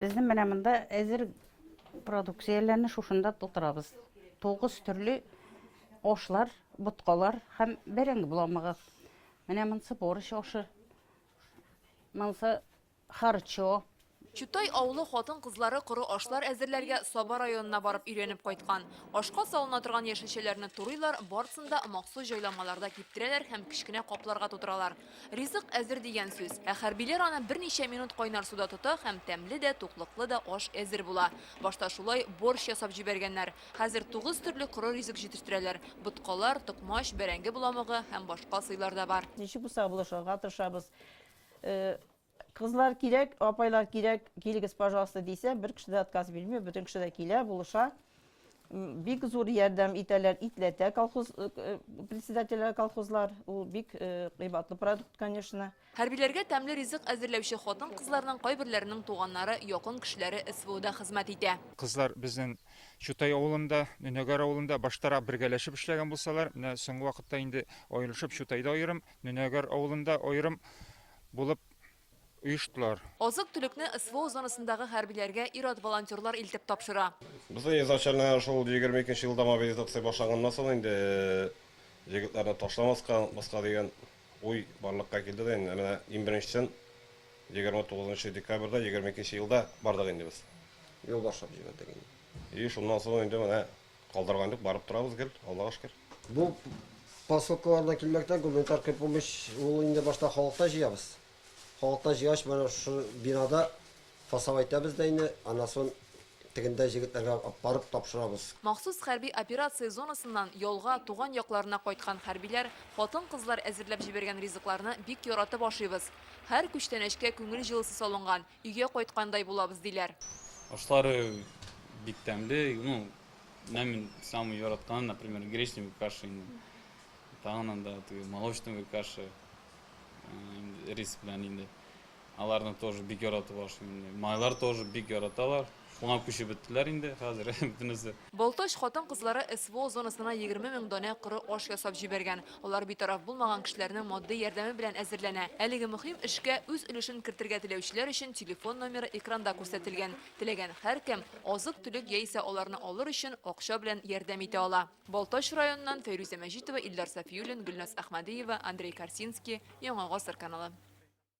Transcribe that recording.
Безнең менә монда әзер продукцияләрне шушында тутырабыз. Тугыз төрле ашлар, боткалар һәм бәрәңге буламыгыз. Менә монсы борщ ашы. Монсы харчо. Чутай авылы хатын-кызлары коры ашлар әзерләргә Саба районына барып өйрәнеп кайткан. Ашка салына торган яшелчәләрне турыйлар, барысын да махсус җайламаларда киптерәләр һәм кечкенә капларга тутыралар. Ризык әзер дигән сүз. Ә хәрбиләр аны берничә минут кайнар суда тота һәм тәмле дә, туклыклы да аш әзер була. Башта шулай борщ ясап җибәргәннәр. Хәзер тугыз төрле коры ризык җитештерәләр. Боткалар, токмач, бәрәңге боламыгы һәм башка сыйлар да бар. Ничек булса да булышырга тырышабыз. Кызлар кирәк, апайлар кирәк, килегез, пожалуйста, дисә, бер кеше дә отказ бирми, бөтен кеше дә килә, булыша. Бик зур ярдәм итәләр, итләтә колхоз э, э, председателе колхозлар. Ул бик э, кыйбатлы продукт, конечно. Хәрбиләргә тәмле ризык әзерләүче хатын кызларның кайберләренең туганнары, якын кешеләре СВОда хезмәт итә. Кызлар безнең Чутай авылында, Нөнәгәр авылында баштарак бергәләшеп эшләгән булсалар, менә соңгы вакытта инде аерылышып Чутайда аерым, Нөнәгәр авылында аерым булып оештылар. Азык-төлекне СВО зонасындагы хәрбиләргә ир-ат волонтерлар илтеп тапшыра. Без изначально шул 22 елда мобилизация башланганнан соң инде егетләрне ташламаска, онытмаска дигән уй барлыкка килде дә инде менә иң беренчесен 29 декабрьдә 22 нче елда бардык инде без. Юл башлап җибәрдек инде. И шуннан соң инде менә Калдырган юк, барып торабыз гел, Аллага шөкер. Бу посылкаларда килмәктән гуманитар кер помощь ул инде башта халыктан җыябыз. Халыктан җыйгач, менә шушы бинада фасал әйтәбез дә инде, аннан сон тегендә җегетләргә барып тапшырабыз. Махсус хәрби операция зонасыннан ялга, туган якларына кайткан хәрбиләр, хатын-кызлар әзерләп җибәргән ризыкларны бик яратып ашыйбыз. Һәр күчтәнәчкә күңел җылысы салынган, Өйгә кайткандай булабыз, диләр. Ашлары бик тәмле, ну, менә мин самый яратканы, например, гречневый каша инде. Тагын анда теге молочный каша, рис белән инде. Аларны тоже бик яратып ашыйм инде. Майлар тоже бик яраталар. Шуңа күчеп беттеләр инде хәзер бөтенесе. Балтач хатын-кызлары СВО зонасына егерме мең данә коры аш ясап җибәргән. Алар битараф булмаган кешеләрнең матди ярдәме белән әзерләнә. Әлеге мөһим эшкә үз өлешен кертергә теләүчеләр өчен телефон номеры экранда күрсәтелгән. Теләгән һәркем азык-төлек яисә аларны алыр өчен акча белән ярдәм итә ала. Балтач районыннан Фәйрүзә Мәҗитова, Илдар Сафиуллин, Гөлназ Әхмәдиева, Андрей Корсинский, Яңа гасыр каналы.